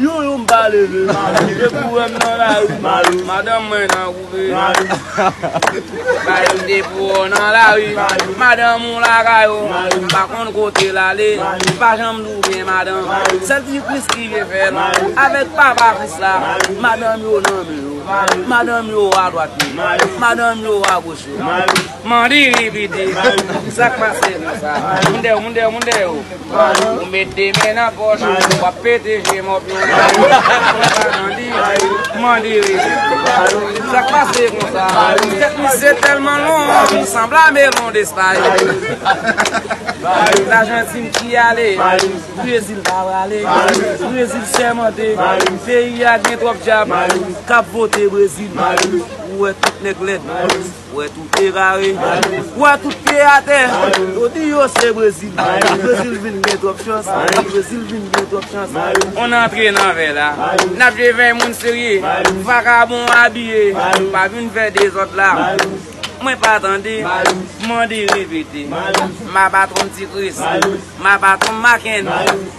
Yon yon m pa leve Malou Depi w wè m nan lari Malou Madanm mwen nan koupe Malou Malou Depi w wè m nan lari Malou Madanm ou lakay ou Malou M pa konn kote l ale Malou M pa janm di w gen madanm Malou Sèl ti Kris ki vle fè l Malou Avèk papa Kris la Malou Madanm yo nan men yo Malou Madanm yo adwat yo Malou Madanm yo agoch yo Malou Mandiri piti Malou Sa k pase konsa Malou Moun dèyè w moun dèyè w moun dèyè w. Ou met de men nan poch ou Wap pete je mop yo Mande rejim Sak pase konsa Tet misye telman long Sanbla melon despay Lajantin ki ale Brezil pa wale Brezil sèmante Peyi a gen twop djab Kap vote brezil Ou wè tout nèg lèd Wè tout te kare, wè tout te atè, yo di yo se Brezil. Brezil vin gen twòp chans, Brezil vin gen twòp chans. On antre nan vè la, n ap jwe vè moun serye. Vakabon abiye, pa vin fè dezòd la. Mwen pa tande, mande repete. M ap atann Ti Kris, m ap atann Makenn.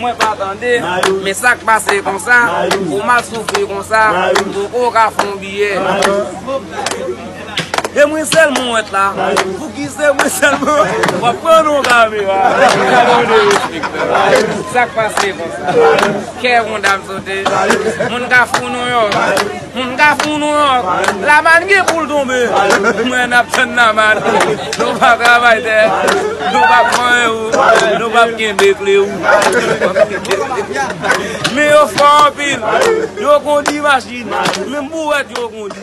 Mwen pa tande, men sak pase konsa, pou m ap soufri konsa, m poko ka fon biyè. E mwen sèl mwen wèt la, pou ki se mwen sèl mwen wèt la. Wap pran yon kamera, gade yon derespektan. Sak pase konsa, kè yon dam sote, moun ka fon nou yo. Humm ka fou nou ank. Lamann gen poul tonbe. Mwen ap tann lamann. Nou pa travay tè. Nou pa pran ou. Nou pa kenbe kle ou. Men yo fò anpil. Yo kondi machin. Menm bouwèt yo kondi.